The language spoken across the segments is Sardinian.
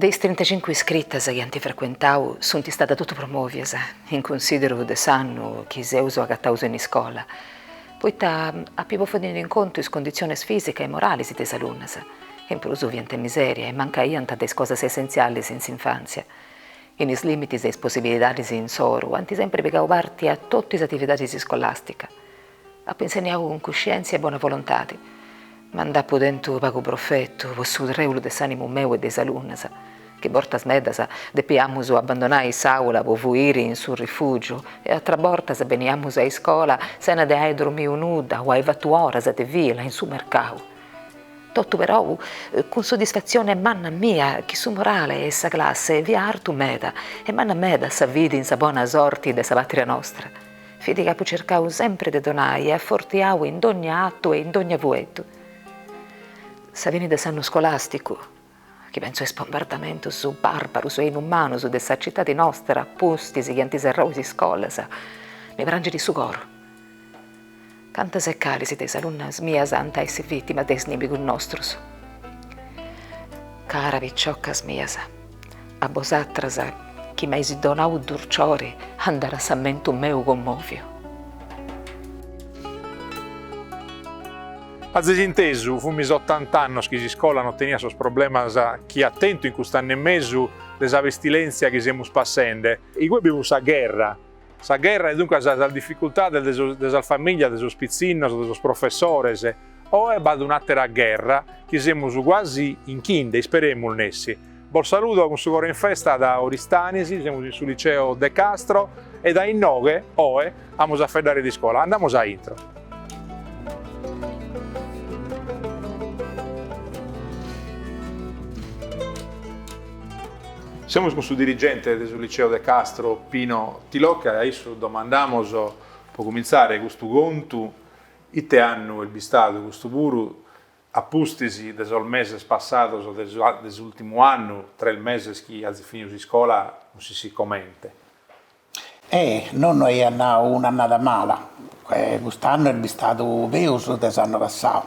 De is trintacincu iscritas chi ant frecuentau sunt stadas totu promòvias, in cunsìderu de s'annu chi seus agataus in iscola, poita apu bòfiu tenni in contu is conditzionis fìsica e moralis de is alunnas, chi in prus fiant in misèria e mancaiant de is cosas essentzialis in s'infàntzia. In is lìmitis de is possibilidadis insoru ant sempri pigau parti a totu is atividadis iscolàsticas, Apo insenniau cun cuscièntzia e bona volontadi, ma nd'apu tentu pagu profetu po su trèulu de s'ànimu meu e de is alunnas, chi bortas medas depiamus abandonai s'àula po fuiri in su rifùgiu e atras bortas beniamus a iscola sena de ai dromiu nudda o ai fatu oras de fila in su mercau. Totu perou cun soddisfatzione manna mia chi su morale 'e sa classe fiat artu meda e manna meda sa fidi in sa bona sorti de sa pàtria nostra. Fidi chi apu circau sempri de donai e afortiau in dogna atu e in dogna fueddu. Sa fini de s'annu scolàsticu, chi pentzu a is bombardamentus bàrbarus e inumanus de sa citadi nostra pustis chi ant serrau is iscolas, mi prangit su coru. Cantas e calis de is alunnas mias ant a essi vìtimas de is nimigus nostrus? Caras piciocas mias, a bosatras chi m'ais donau durciori andat s'ammentu meu commòviu. Azis intesu, fumis otant'annos chi s'iscola no teniat sos problemas chi at tentu in cust'annu e mesu de sa pestilèntzia chi semus passende. Igue bi fut sa gherra, Sa gherra e duncas sas dificultades de sas famìlias de sos pitzinnos, de sos professores, oe b'at un'àtera gherra chi semus cuasi 'inchinde, isperemus nessi. Bos saludo cun su coro in festa da Oristanis, semus in su liceo De Castro e dae inoghe, oe, amus a faeddare d'iscola. Andamus a intro. Semus cun su dirigente de su Liceo de Castro, Pino Tilocca, e a issu domandamus, pro cumintzare custu contu, ite annu est bistadu custu puru, a pustis de sos meses passados de s'ùrtimu annu, tres meses chi azis finidu s'iscola non s'ischit comente. E nonno aiat nau un'annada mala, cust'annu est bistadu peus de s'annu passau,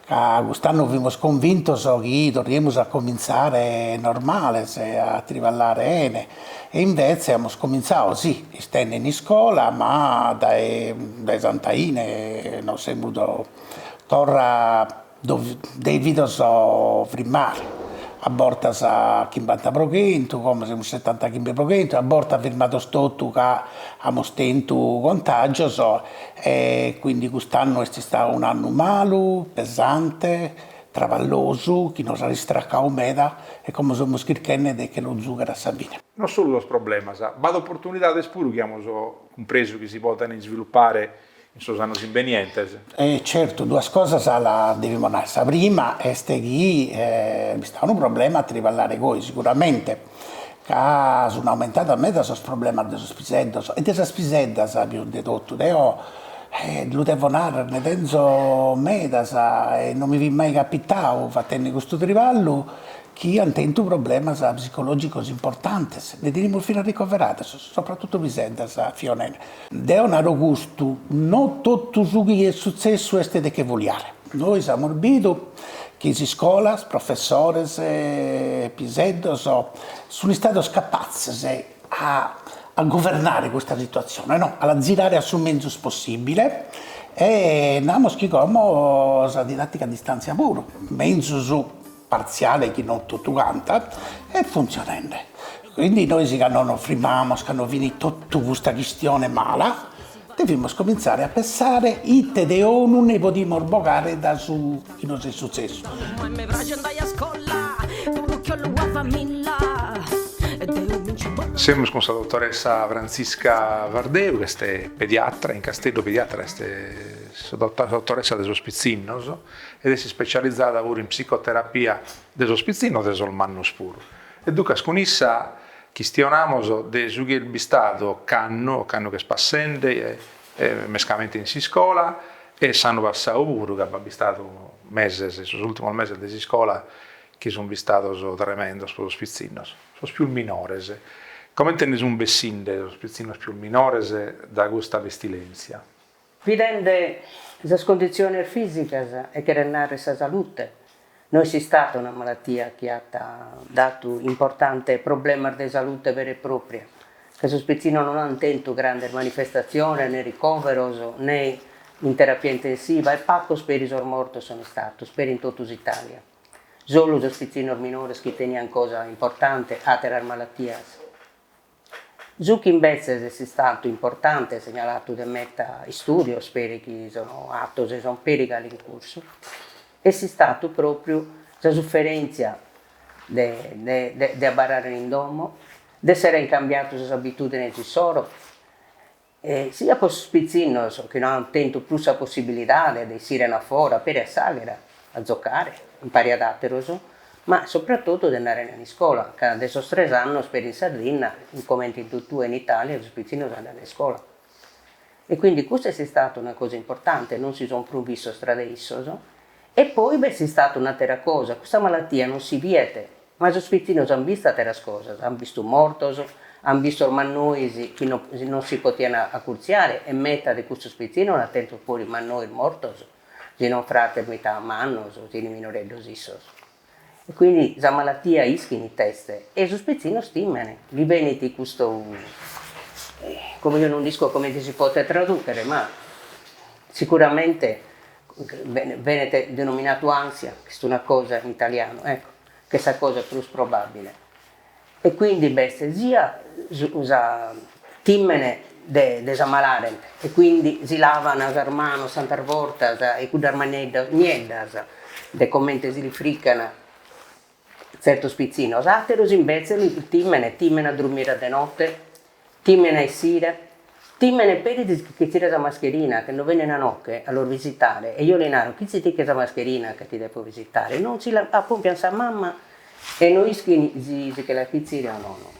ca cust'annu fimus convintos chi torriemus a comintzare normales a triballare 'ene, e invece amus comintzadu si istende in iscola ma dae dae Santaine non semus torra Devidos frimmare, a bortas chimbanta pro chentu, como semus setantachimbe pro chentu, a bortas firmados totu ca amus tentu contagios e quindi cust'annu est istadu un'annu malu, pesante, traballosu, chi nos at istracadu meda e como semus chirchende de che lu zughere a sa fine. Non solu sos problemas, b'at oportunidades puru chi amus cumpresu chi si podent isvilupare In sos annos imbenientes. E certu duas cosas las devimus narrer. Sa prima est chi est istadu unu problema a triballare goi, siguramente, ca sun aumentados meda sos problemas de sos piseddos e de sas piseddas pius de totu. Deo lu devo narrer, nde tenzo medas e non mi fit mai capitadu fattende custu triballu chi ant tentu problemas psicològicos importantes, nde tenimus finas ricoveradas, sopratutu piseddas, zovanas. Deo naro custu, no totu su chi est sutzessu est de che foliare. Nois amus bidu chi iscolas, professores, piseddos, sunt istados capatzes a a governare custa situatzione, no, a la zirare a su menzus possibile e namus chi como sa didattica a distantzia puru, menzus partziale chi non totu canta, est funtzionende, quindi nois cando nos frimmamos cando finit totu custa chistione mala devimus comintzare a pensare ite de 'onu ne podimus bogare dae su chi nos est sutzessu. Semus cun sa dotoressa Frantzisca Vardeu ch'est pediatra in Casteddu pediatra est sa dotoressa de sos pitzinnos. ed est ispecializada puru in psicoterapia de sos pitzinnos de sos mannos puru e duncas cun issa chistionamos de su chi est bistadu ocannu, ocannu ch'est passende e mescamente in s'iscola e s'annu passadu puru ca b'at bistadu meses, sos ultimos meses de s'iscola chi sun bistados tremendos pro sos pitzinnos, sos pius minores, comente nde sun bessinde sos pitzinnos pius minores dae custa pestilenzia. Bidende sas conditziones fìsicas e cheret nàrrere sa salute, no est istada una malatia chi at datu importantes problemas de salute vera e pròpria, ca sos pitzinnos non ant tentu grandes manifestatziones ne ricòveros ne in terapia intensiva e pagos peri sos mortos sunt istados peri in totu s'Itàlia, solu sos pitzinnos minores chi teniant cosa importante, àteras malatias. Su chi imbetzes est istatu importante segnalatu de meta istùdios, peri chi sono atos e sono peri galu in cursu, est istatu pròpriu sa suferèntzia de de de abarrare in domo, de àere cambiatu sas abitùdines issoro, E siat po sos pitzinnos chi no ant tentu prus sa possibilidade de essiren a fora a peri a s'àghera, a zocare impari ad àteros, ma sopratotu de andare in iscola, ca de sos tres annos peri in Sardinna, comente in totue in Italia, sos pitzinnos andant a iscola. E quindi custa est istada una cosa importante, non si son prus vistos tra de issos. E poi b'est istada un'àtera cosa, custa malatia non si biet Ma sos pitzinnos an bistu atteras cosas, an bistu mortos, an bistos mannois chi no non si potian accurtziare e meta de custos pitzinnos l'an tentos puru mannois mortos, si son frates meta mannos, si son minoreddos issos. E quindi sa malattia ischin it'est e sos pitzinnos timen, li benit custo como io non nd'isco comente si potet tradùchere ma sicuramente benit denominatu ansia, chi est una cosa in italianu, ecco, chi est sa cosa prus probabbile, e quindi b'est sia su sa tìmene de de s'ammalare e quindi si lavan sas manos tantas bortas e cuddas maneddas nieddas de comente si li frican Tzertos pitzinnos àteros imbetzes lu tìmene, tìmene a drumire de note, tìmene a essire, tìmene peri a si che chitzire sa mascherina, che no benene a noche a los visitare, e io li naro, chitzi·ti·che sa mascherina ca ti depo visitare, non si la apòmpian sa mamma e no ischin si si che la chitzire o nono.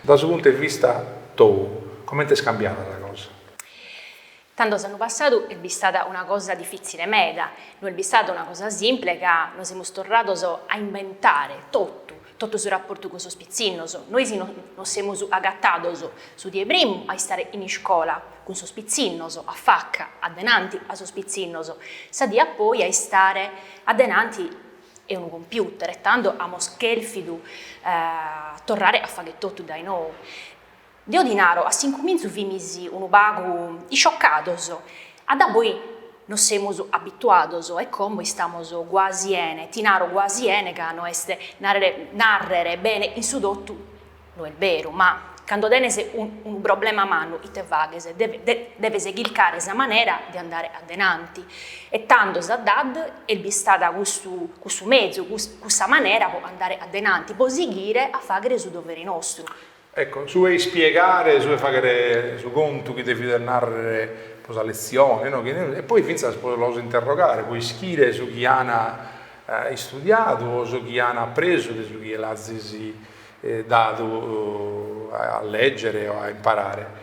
Da su puntu 'e vista tou, comente est cambiada sa cosa? Tando s'annu passadu est bistada una cosa difìtzile meda, no est bistada una cosa simple ca nos semus torrados a imbentare totu, totu su raportu cun sos pitzinnos. Nois nos semus agatados su die primu a istare in iscola cun sos pitzinnos, a faca, adenanti a sos pitzinnos, sa die a poi a istare adenanti 'e unu computer e tando amos chèrfidu torrare a fagher totu dae nou. Deo ti naro, a s'incumintzu fimis unu pagu isciocados, a da poi nos semus abituados e como istamos guasi 'ene, ti naro guasi 'ene ca no est nàrrere bene in su totu, No est beru, ma cando tenes unu problema mannu ite faghes? Deves chircare sa manera de andare a denanti. E tando sa dad est bistada cussu mezu, cussa manera po andare a denanti, po sighire a faghere su dovere nostru. Ecco, su 'e ispiegare, su 'e faghere su contu chi devides narrere pro sa letzione, no, e poi fintzas pro los interrogare, pro ischire su chi an istudiadu o su chi an apresu de su chi l'azis dadu a lègere o a imparare.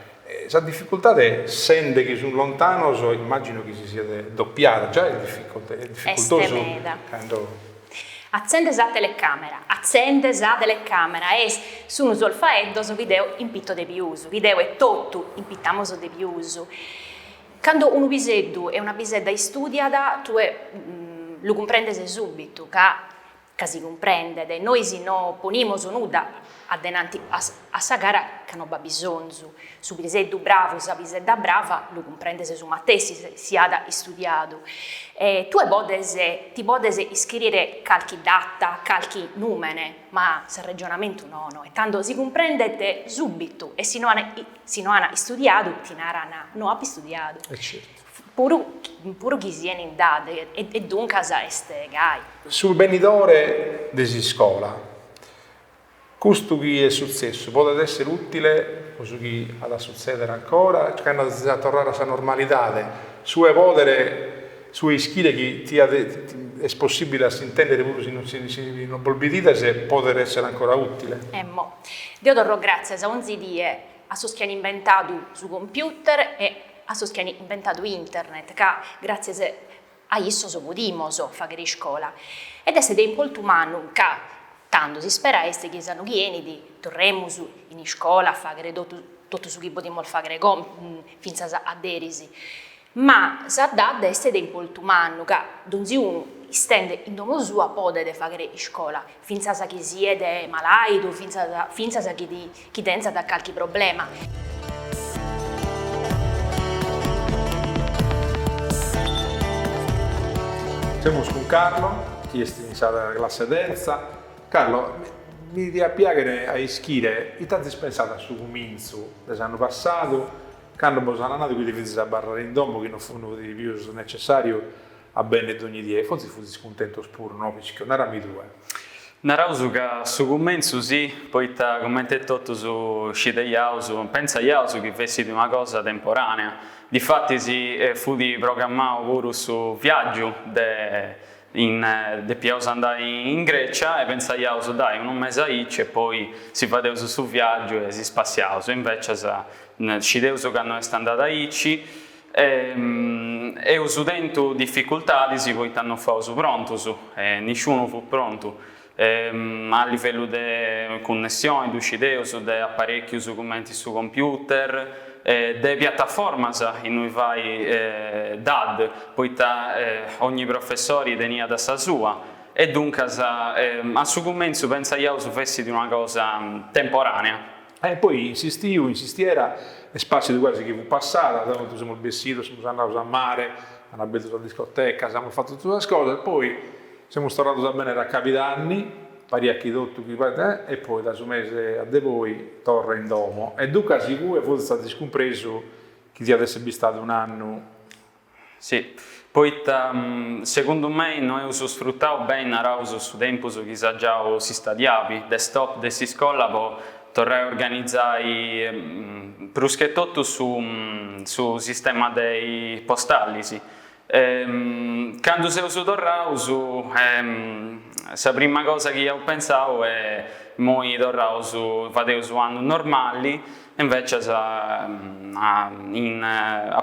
Sa dificultade, sende chi sun lontanos, immàgino chi si siat dopiada, già est dificultosu. Cando... Atzende sa telecàmera, atzende sa telecàmera, e sun sos faeddos chi deo impito de pius, chi deo etotu impitamos de pius. Cando unu piseddu e una pisedda istùdiat, tue lu cumprendes subitu ca. ca si cumprendet, nois no ponimus nudda adenanti a sa gara ca no b'at bisonzu, su piseddu bravu, sa pisedda brava, lu cumprendes su matessi, si at istudiadu. E tue podes, ti podes iscrìere calchi data, calchi nùmene, ma s'arregionamentu nono, e tando si cumprendet sùbitu, e si no at istudiadu ti naran, no apo istudiadu. Certu. Puru puru chi sieni in DAD. E duncas est gai. Su benidore de s'iscola. Custu chi est sutzessu podet èssere ùtile pro su chi at a sutzèdere ancora cando si at a torrare a sa normalidade, su 'e pòdere, su 'e ischire chi diat, est possìbile a s'intèndere puru si non si non bos bidides, podet èssere ancora ùtile. Emmo. Deo torro gràtzias a onzi die. a sos chi an inventadu su computer e a sos chi an inventadu internet, ca gràtzias a issos podimos fàghere iscola. Ed est de importu mannu ca, tando, s'ispera est chi s'annu chi 'enit torremus in iscola a fàghere totu su chi podiamos fàghere fintzas a deris. Ma sa DAD est de importu mannu, ca donzi unu, istende in domo sua, podet fàghere iscola, fintzas chi siet malàidu, fintzas chi tentzat carchi problema. Semus cun Carlo, chi est in sa classe terza. Carlo, mi diat piàghere a ischire ite azis pensadu a su cumintzu de s'annu passadu, cando bos an nadu chi deviazis abarrare in domo chi no fut pius necessàriu a benni dogni die, fotzis futis cuntentos puru, no l'ischio? Narami tue. Naraus ca a su cumentzu si, poita comente totus scideiaus, pentzaiaus chi fessit una cosa temporànea. Difatis fut programmau puru su viàgiu de Depiaus andai in Grecia e pensaiaus dai unu mesi aici e poi si fadeus su viagiu e si spassiaus e invecias scideus ca no est andada aici e eus tentu difficultadis poita no faus prontus e nisciunu fut prontu. Ma a livellu de cunnessioni ddu scideus de aparèchius cumenti su computer e de piataformas innui fai dad, poita ogni professori teniat sa sua e duncas a su cumentzu pentzaiaus fessit una cosa temporànea. E poi in s'istiu, in s'istiera, est pàssiu de quasi chi fut passada, tantu semus bessidus, semus andaus a mare, amus abertu sas discotecas, amus fatu totu sas cosas, poi. Semus torrados a benner a Cabidanni, pariat chi totu e e poi da su mese a de poi torra in domo e duncas igue forsis azis cumpresu chi diat esser bistadu un'annu. Si, poita segundu mei no eus sfrutau beni naraus su tempus chi s'at giau s'istadiali de stop de s'iscola po torrai a organizai pruschetotu su su sistema dei postallis E candu seus torraus, sa prima cosa chi iaus pentzau est imoi torraus fadeus u' annu normali e invecias a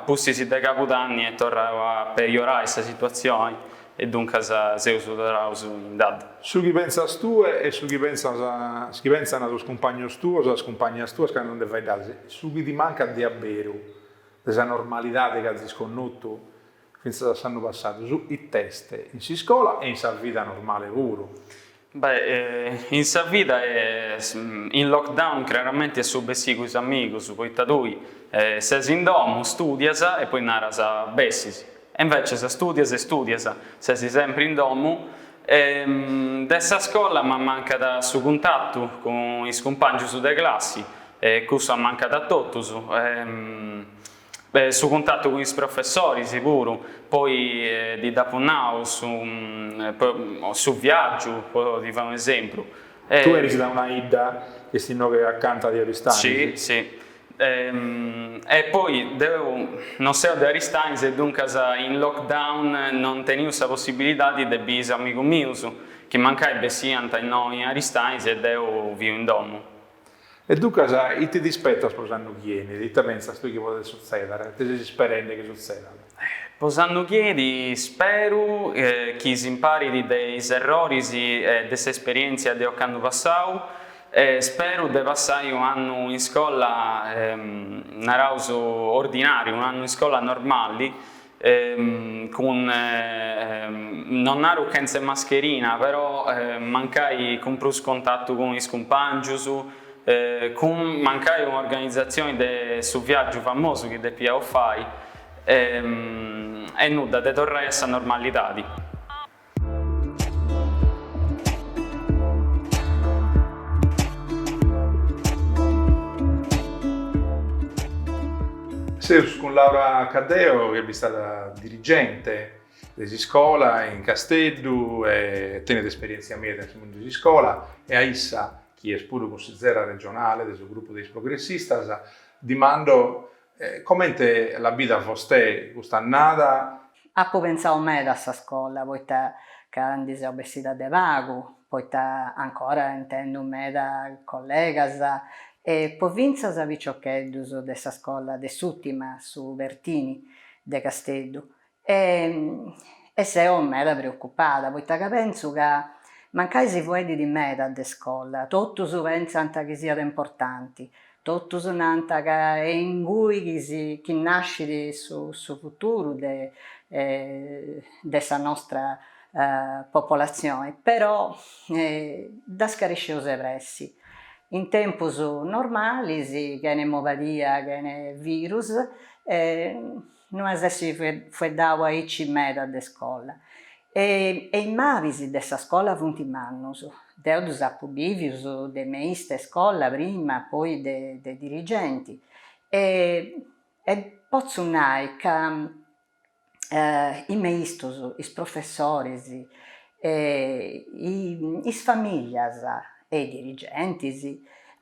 pustis de cabudanni est torrau a pejorai sa situazioni e duncas seus torraus in dad. Su chi pentzas tue e su chi pentzas su chi pentzana sos cumpagnos tuos e sas cumpagnas tuas candu nde faeddades su chi ti mancat de abberu. de sa normalidade chi azis connotu fintzas a s'annu passadu, su it'est in s'iscola e in sa vida normale puru? Beh, in sa vida in lockdown craramenti est su bessiri cun is amigus, poita tui ses in domu, studias e poi naras bessis, e invecias studias e studias, ses sempri in domu, E de sa scola m'ammancat su cuntatu cun is cumpàngius de classi, e cussu ammancat a totus, e su cuntatu cun is professoris puru, poi ti dd'apu nau su su viàgiu, po ti fai un'esempru. Tue 'enis de una 'idda, est innoghe acanta de Aristanis? Si, si. E poi deu non seu de Aristanis e duncas in lockdown non teniu sa possibilidadi de biri is amigus mius, chi mancai bessiant innoi in Aristanis e deu fiu in domu. E duncas ite ti ispetas po s'annu chi 'enit? Ita pentzas tui chi podet sutzeder? Ite ses isperendi chi sutzedat? Po s'annu chi 'enit speru chi s'imparit de is erroris e de s'esperièntzia de ocannu passau e speru de passai un'annu in iscola naraus ordinàriu, un'annu in iscola normali cun non naru chentze mascherina però mancai cun prus contatu cun is cumpàngius cun mancai un'organizatzioni de su viàgiu famosu chi depiaus fai E est nudda de torrai a sa normalidadi. Seus cun Laura Caddeo chi est istada dirigente de s'iscola in Casteddu e tenet esperièntzia meda in su mundu de s'iscola e a issa, chi est puru cunsitzera regionale de su grupu de is progressistas, dimando E comente l'at bida Fostei custa annada? Apo pentzau meda a sa scola, poita ca ndi seu bessida de pagu, poita ancora intendu meda collegas, e po fintzas piciocheddus de sa scola de s'urtima, su Pertini, de Casteddu, E e seo meda preocupada, poita ca pentzu ca mancai si fueddit meda de iscola, totus pentzant chi siat importanti, totus nant ca est ingui chi si chi nascit su su futuru de de sa nostra popolatzioni, però dda scaresceus de pressi, in tempus normalis chene mobadia chene virus No iaus essi fueddau aici meda de scola. E is malis de sa scola funt mannus. Deu ddus apu bivius de meista 'e scola prima, poi de dirigenti. E e potzu nai ca is meistus, is professoris, e is familias e i dirigentis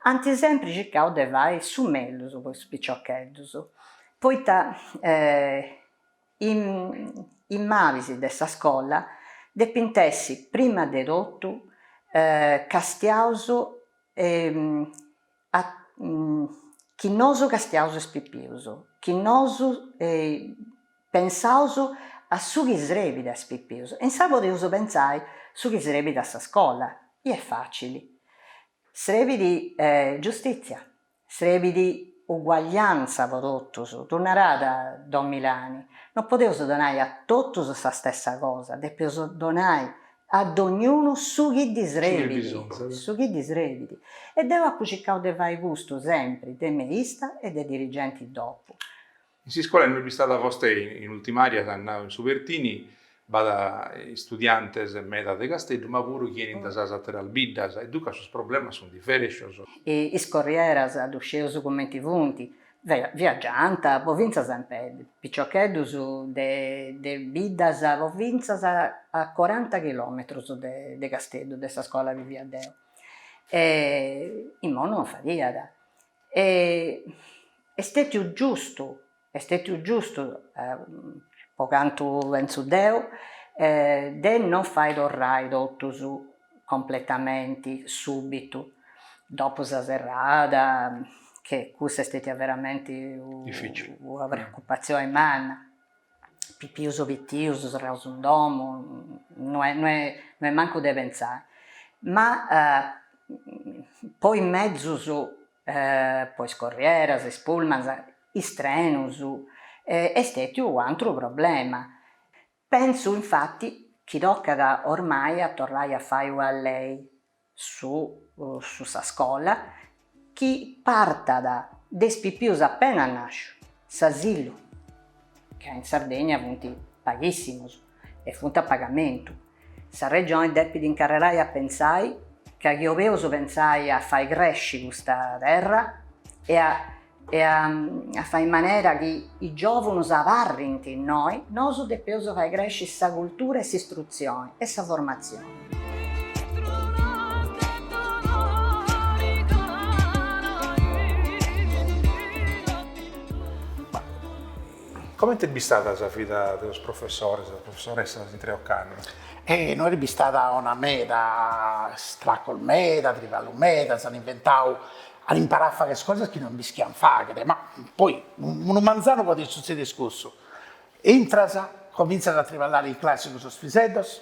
ant sempri circau de fai su mellus po is piciocheddus. Poita is malis de sa scola depint essi prima de totu castiaus chi nosu castiaus is pipius, chi nosu pensaus a su chi srebit a is pipius, e insaras podeus pentzai su chi srebit a sa scola, i est facili, srebit giustitzia Srebit uguagliantza po totus, ddu narat don Milani, no podeus donai a totus sa stessa cosa, depeus donai a dognunu su chi ddi srebit, su chi ddi srebit, e deu apu circau de fai custu sempri de meista e de dirigenti dopu. In s'iscola innui est bistada Fostei in ultim'aria s'at nau in su Pertini b'at istudiantes meda de Casteddu ma puru chi 'enint da sas ateras biddas e duncas sos problemas sunt diferentes. Is corrieras ddu sceus cumenti funt, viagiant po fintzas in peddu, piciocheddus de de biddas po fintzas a coranta chilometrus de Casteddu de sa scola abì fia deu e imoi non fadiat E est stètiu giustu, est stètiu giustu, pro cantu pentzu deu, de non fai torrai totus completamenti sùbitu, dopo sa serrada, che cussa est stètia veramenti una preocupatzioni manna, pipius pitius serraus in domu, no est no est no est mancu de pentzai, ma po is mezus po is corrieras, is pullmans, is trenus est stètiu un'antru problema, pentzu infati chi tocat oramai a torrai a fai una lei su su sa scola chi partat de is pipius appenas nascius, s'asilu, ca in Sardegna funt paghissimus e funt a pagamentu, sa Regioni depit incarrerai a pentzai ca chi 'obeus pentzai a fai cresci custa terra e a e a a fai in manera chi is giòvunus abarrint innoi, nosu depeus fai cresci sa cultura e s'istrutzioni e sa formatzioni. Comente est bistada sa vida de sos professores e sas professoressas intre ocannu? Eh no, est bistada dura meda, istracos meda, triballu meda, s'an inventau an imparau a fagher cosas chi non b'ischian fagher, ma poi unu manzanu podet sutzeder cussu, intras, comintzas a triballare in classi cun sos piseddos,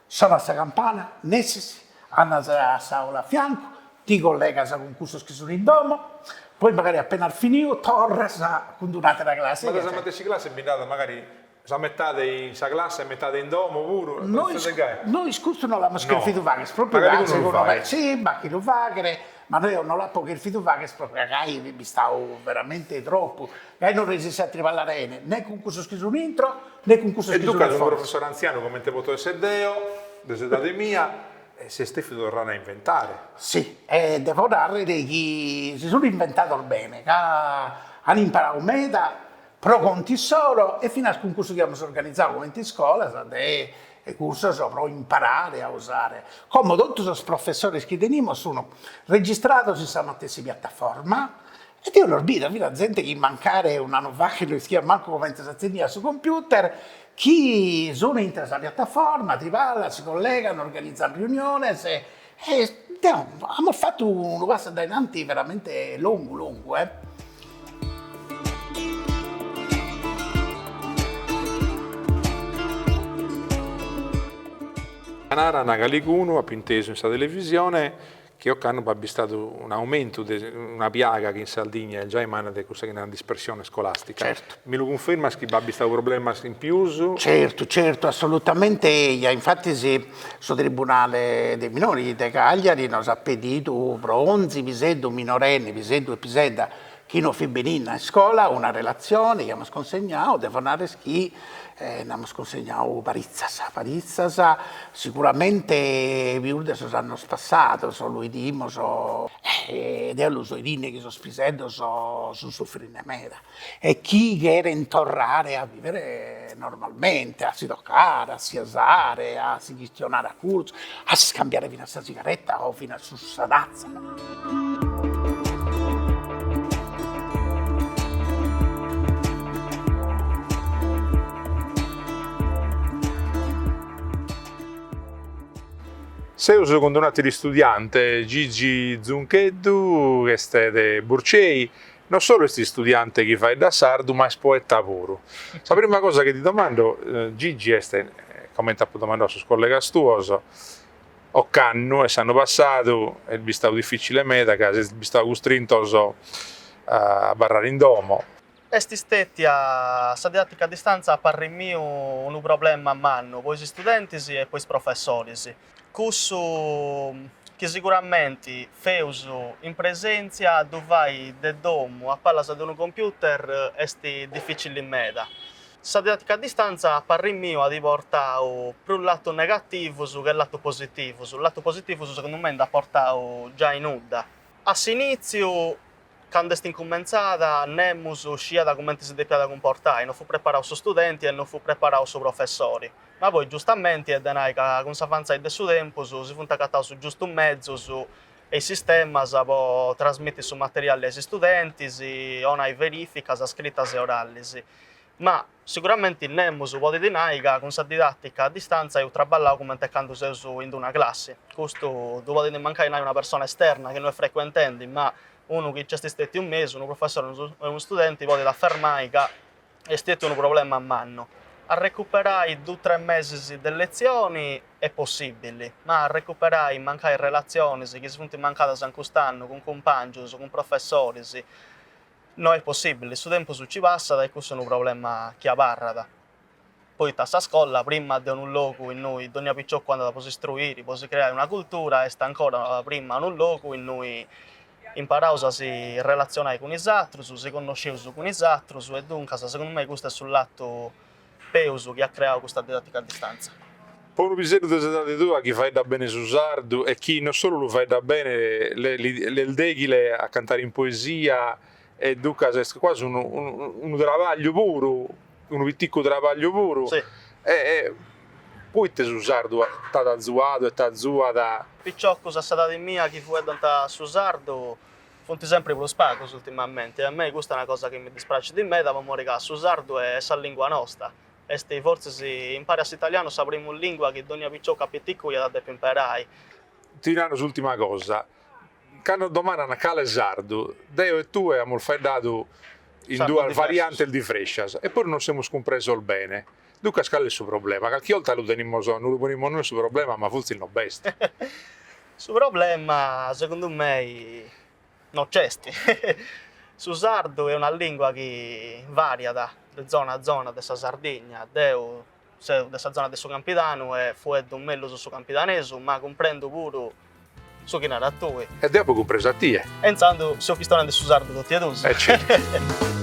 sonat sa campana, nessis, andas a s'aula a fiancu, ti collegas cun cussos chi sun in domo, poi magari apenas finiu torras cun d-un'àtera classe. Ma de sa matessi classe bi nd'at magari Sa metade in sa classe e metade in domo puru. Nois nois custu no l'amus cherfidu fagher propriu ca segundu me si b'at chie lu faghet ma no eo no l'apo cherfidu fagher propriu ca gai bistau veramente tropu gai no resessio a triballare 'ene ne cun cussos chi sun intro ne cun cussos chi sun foras. E duncas unu professore antzianu comente poto esser deo de s'edade mia s'est devidu torrare a inventare. Si e devo narrer chi si sun inventados bene ca an imparadu meda pro contu issoro e finas cun cursos chi amus organizau comente iscolas de cursos pro imparare a usare, como totu sos professores chi tenimus sun registrados in sa matessi piattaforma e deo los bido, finas zente chi mancare un'annu faet no ischiat mancu comente s'atzeniat su computer, chi sun intre sa piattaforma, triballan, si collegan, organizan riuniones e amus fatu unu passu a dainanti veramente longu longu. Narat calicunu, apu intesu in sa televisione, chi ocannu b'at bistadu un aumentu de una piaga chi in Sardigna est giai manna de cussa chi naran dispersione scolastica. Certu. Mi lu cunfirmas chi b'at bistadu problemas in pius? Certu, certu, assolutamente eia, infatis Su tribunale dei minori de Cagliari nos at pedidu pro onzi piseddu minorenne, piseddu e pisedda, chi non fit benida a iscola una relatzione chi amus cunsignadu, devo narrer chi nd'amus cunsignadu paritzas, paritzas, siguramente pius de sos annos passados, lu 'idimus e deo lu so 'idende chi sos piseddos sun suffrende meda. e chi cherent torrare a vivere normalmente, a si tocare, a si asare, a si chistionare a curtzu, a s'iscambiare finas sa sigaretta o finas su sa tazza. Seus cun d'un'àteru istudiante, Gigi Zuncheddu, ch'est de Burcei, No solu est istudiante chi faeddat sardu ma est poeta puru. Sa prima cosa chi ti domando Gigi est, comente apo domandadu a sos collegas tuos, ocannu e s'annu passadu est bistadu dificile meda ca sezis bistados custrintos a abarrare in domo. Est stetia sa didatica a distanza a parri miu unu problema mannu po is istudentis e po is professoris. cussu chi siguramenti feus in presèntzia ddu fai de domu a palas de unu computer est dificili meda. Sa didàtica a distantza a parri miu at portau prus latus negativus che latus positivus, latus positivus segundu mei nd'at portau giai nudda. A s'inìtziu Candu est incumentzada, nemus sciat cumenti si depiat cumportai, non fut preparau su studenti e non fut preparau su professori. Ma poi, giustamenti, est de nai ca cun s'avantzai de su tempus si funt agataus is giustus mezus e is sistemas po trasmiti su materiali a is studentis, onai verificas scritas e oralis. Ma. Siguramenti nemus podit nai ca cun sa didàtica a distàntzia eus traballau cumenti e candu seus in d-una classi. Custu ddu podit mancai nai una persona esterna chi no est frecuentendi, ma unu chi nc'est stètiu in mesu, unu professori e unu studenti, podit afermai ca est stètiu unu problema mannu. Arrecuperai dus tres mesis de letzioni est possìbili, ma arrecuperai mancai relatzionis chi si funt mancadas in cust'annu cun cumpàngius, cun professoris, No est possibile, su tempus nci passat e cussu est unu problema chi abarrat, poita sa scola, prima de unu logu innui dònnia piciocu andat po s'istruiri, po si creai una cultura, est ancora prima unu logu innui imparaus a si relatzionai cun is atrus, si connosceus cun is atrus e duncas segundu mei custu est su latu Peus chi at criau custa didàtica a distàntzia. Po unu piseddu de s'edadi tua chi faeddat bene su sardu e chi no solu lu faeddat bene t'est dèghile a cantare in poesia e duncas est cuasi unu unu trabagliu puru, unu piticu trabagliu puru. Si. E poite su sardu t'at azuadu e t'azuat? Piciocus de s'edadi mia chi fueddant su sardu Funt sempri prus pagos ultimamenti e a mei custa est una cosa chi mi dispraxit meda po mori ca su sardu est sa lìngua nosta est fortzis impari a s'italianu sa primu lìngua chi dònnia picioccu piticcu iat a depi imparai. Ti naro s'ùltima cosa, cando domanant cale sardu, deo e tue amus faeddadu in duas variantes diferentes e puru nos semus cumpresos bene. Duncas cale est su problema? Calchi 'olta lu ponimus, nos lu ponimus nois su problema, ma fortzis no b'est. Su problema segundu mei no c'est. Su sardu est una lìngua chi vàriat de zona a zona de sa Sardigna. Deu seu de sa zona de su Campidanu e fueddu mellus su campidanesu, ma cumprendu puru Su chi naras tui. E deu apo cumpresu a tie. E intzandus seus chistionende su sardu totu e duus. Certu.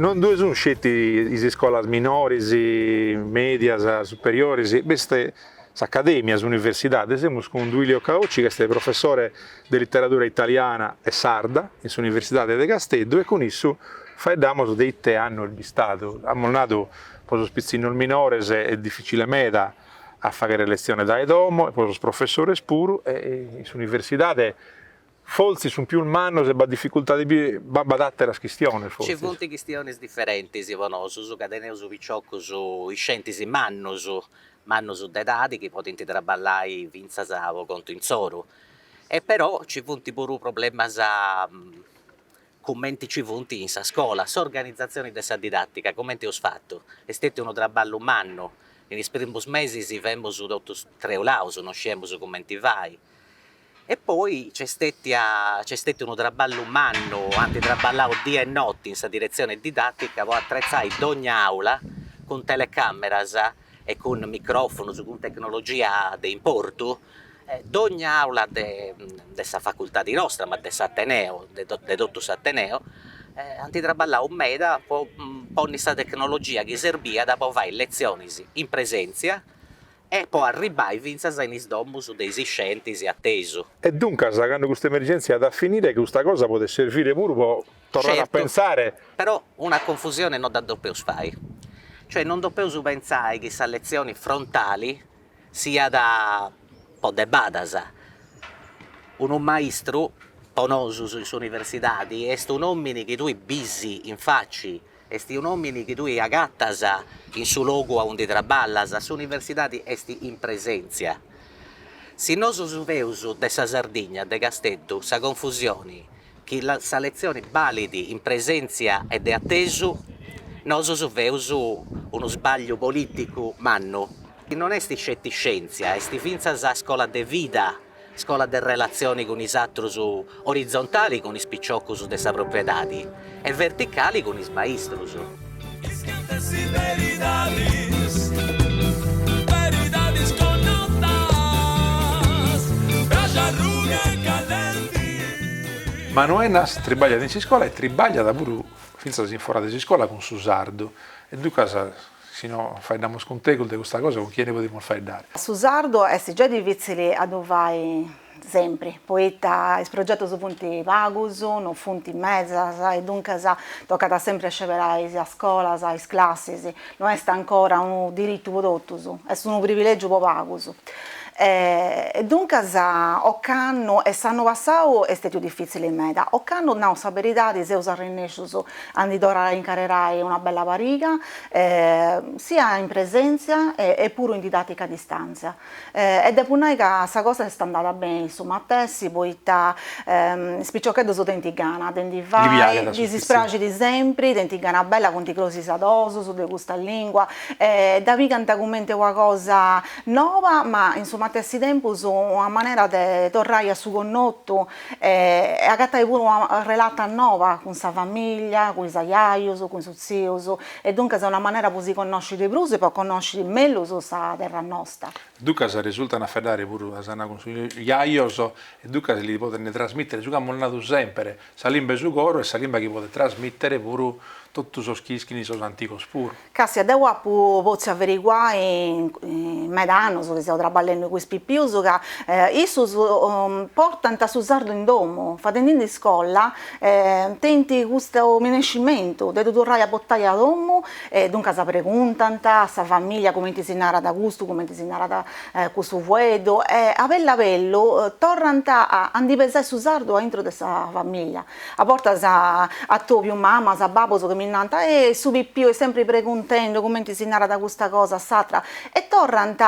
Non bi sun sceti is iscolas minoris, medias, superiores, b'est s'Acadèmia, s'Universidade, semus cun Duilio Caocci chi est professore de literadura italiana e sarda in s'Universidade de Casteddu e cun issu faeddamus de ite annu est bistadu, amus nadu po sos pitzinnos minores est dificile meda a faghere letzione dae domo e po sos professores puru e in s'Universidade Fortzis sunt pius mannos e b'at dificultades, ma b'at àteras chistionis fortzis. Nci funt chistionis diferentis po nosus ca teneus piciocus iscentis mannus, mannus de edadi chi podint traballai fintzas po contu insoru e però nci funt puru problemas cumenti nci funt in sa scola, s'organizatzioni de sa didàtica cumenti eus fatu, est stetiu unu traballu mannu, in is primus mesis femus totu treulaus, no sciemus cumenti fai E poi nc'est stètia, nc'est stètiu unu traballu mannu, ant traballau die e noti in sa diretzione didàtica po atretzai dogna àula cun telecàmeras e cun micròfonus, cun tecnologia de importu, dogna àula de de sa facultadi nostra, ma de s'ateneu, de de totu s'ateneu, ant traballau meda po ponni sa tecnologia chi serbiat po fai letzionis in presèntzia e po arribbai fintzas in is domus de is iscientis atesu. E duncas, candu custa emergèntzia at a finire, custa cosa podet servire puru po torrai a pentzare. Però una confusione no dda depeus fai. Cioè non depeus pentzai chi sa letzioni frontali siat po debadas. Unu maistru, po nosus in s'universidadi, est un'òmini chi tui bisi in faci Est un'òmini chi tui agatas in su logu aundi traballas, s'universidadi est in presèntzia. Si nosus feus de sa Sardigna, de Casteddu, sa confusioni chi sa letzioni balit in presèntzia e de atesu, nosus feus unu sbagliu polìticu mannu. Non est sceti scièntzia, est fintzas scola de vida. Scola de relatzioni cun is atrus orizontali cun is piciocus de sa pròpria edadi e verticali cun is maistrus. Is cantas is beridadis, beridadis connotas, braxu arruga e callenti. Manu Ennas tribagliat in s'iscola e tribagliat puru fintzas in fora de s'iscola cun su sardu e duncas Si no faeddamus cun tegus de custa cosa cun chie ndi podimus faeddare? Su sardu est giai difitzili a ddu fai sempri, poita is progetus funt pagus, no funt medas, e duncas tocat sempri a sceberai is scolas, is classis, no est ancora unu diritu po totus, est unu privilegiu po pagus. E duncas ocannu, e s'annu passau est stetiu difitzili meda, ocannu, nau sa beridadi, seus arrennescius A ndi torrai a incarrerai una bella pariga, sia in presèntzia e puru in didàtica a distàntzia. E depu nai ca sa cosa est andada beni su matessi poita is piciocheddus tenint gana de ndi fai, ddis praxit sempri, tenint gana bella, funt crosidadosus de custa lìngua e dda pigant cumenti una cosa noba ma in su matessi tempus una manera de torrai a su connotu E agatai puru una relata noba cun sa famìllia, cun is ajajus, cun is tzius, e duncas est una manera po si connosci de prus e po connosci mellus sa terra nosta. Duncas resultant a faeddare puru, as a nai, cun sos jajos, e duncas li podent trasmìtere su chi amus nadu semper, sa limba 'e su coro e sa limba chi podet trasmìtere puru totu sos chi ischint sos antigos puru. Càstia, deu apu potziu averiguai in meda annus chi seu traballendi cun is pipius ca issus portant su sardu in domu, fadendi-ddu in iscola tenint custu minescimentu de ddu torrai a portai a domu e duncas preguntant a sa familia cumenti si narat custu, cumenti si narat cussu fueddu e a bellu a bellu torrant a ndi pesai su sardu aintru de sa familia A bortas atòbiu mamas, babus chi mi nant, e su pipiu est sempri preguntendi cumenti si narat custa cosa, s'atra, e torrant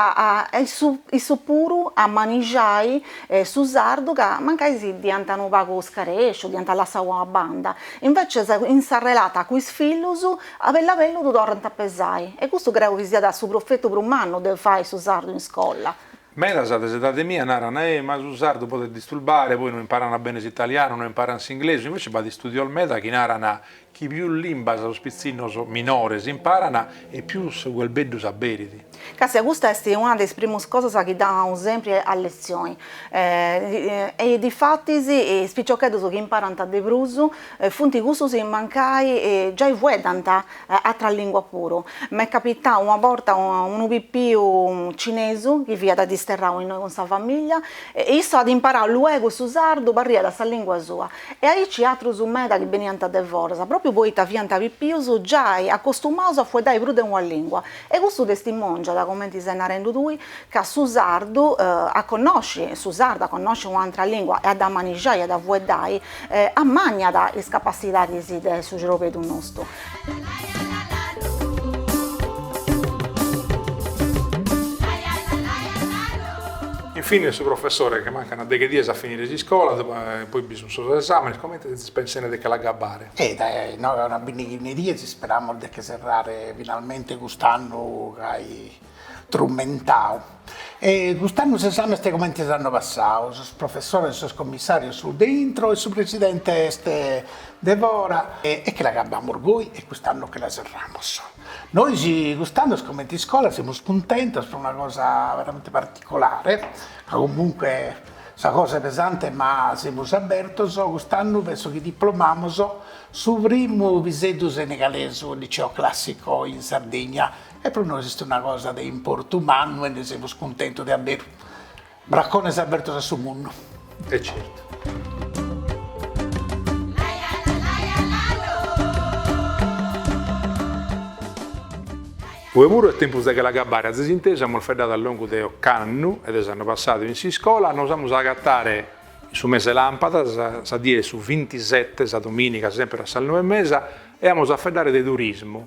issus puru a manixai su sardu ca mancai si dd'iant unu pagu scaresciu, dd'iant lassau a banda, invècias in s'arrelata cun is fillus a bellu a bellu ddu torrant a pesai, e custu creu chi siat su profetu prus mannu de fai su sardu in iscola. Medas de s'edade mia naran, eh, ma su sardu podet disturbare, poi no imparant bene s'italianu, no imparant s'inglesu, invece b'at istudios meda chi naran chi pius limbas sos pitzinnos minores imparan e pius su cherbeddu s'aberit. Castia, custa est una de is primus cosas chi dda nau sempri a letzioni, e difatis is piciocheddus chi imparant de prus funt cussus chi mancai giai fueddant atras lìnguas puru. M'est capitau una borta unu pipiu cinesu chi fiat disterrau innoi cun sa famìllia, e issu at imparau luegu su sardu, parriat sa lìngua sua, e aici atrus meda chi beniant de foras, pròpiu poita fiant pipius giai acostumaus a fueddai prus de una lìngua, e custu testimòngiat, comenti ses narendu tui, ca su sardu, a connosci su sardu, a connosci un'atra lìngua e a dda manixai e a dda fueddai, ammànniat is capassidadis de su ciorbeddu nostu. In fine su professore, che mancan deghe dies a finire s'iscola, e poi bi sun sos esamenes, comente sezis pensende de che l'agabbare? E dae inoghe a una bindighina de dies isperamus de che serrare finalmente cust'annu gai trumentau. E cust'annu s'esami est comente s'annu passau, sos professores e sos commissarios sunt de intro e su presidente est de fora e che l'agabamus goi e cust'annu che la serramus. Nois cust'annu comente iscola semus cuntentos pro una cosa veramente particolare, ca comunque sa cosa est pesante ma semus abbertos, cust'annu penso chi diplomamos su primu piseddu senegalesu liceo classico in Sardigna e pro nois est una cosa de importu mannu e nde semus cuntentos de aber bracones abertos a su mundu. E certu. Oe puru est tempus de che l'agabbare, azis intesu, amus feddadu a longu de ocannu e de s'annu passadu in s'iscola, nos amus a agatare in su mese de làmpadas, sa die de su bintisette, sa domìniga, semper a sas noe e mesa, e amus a feddare de turismu,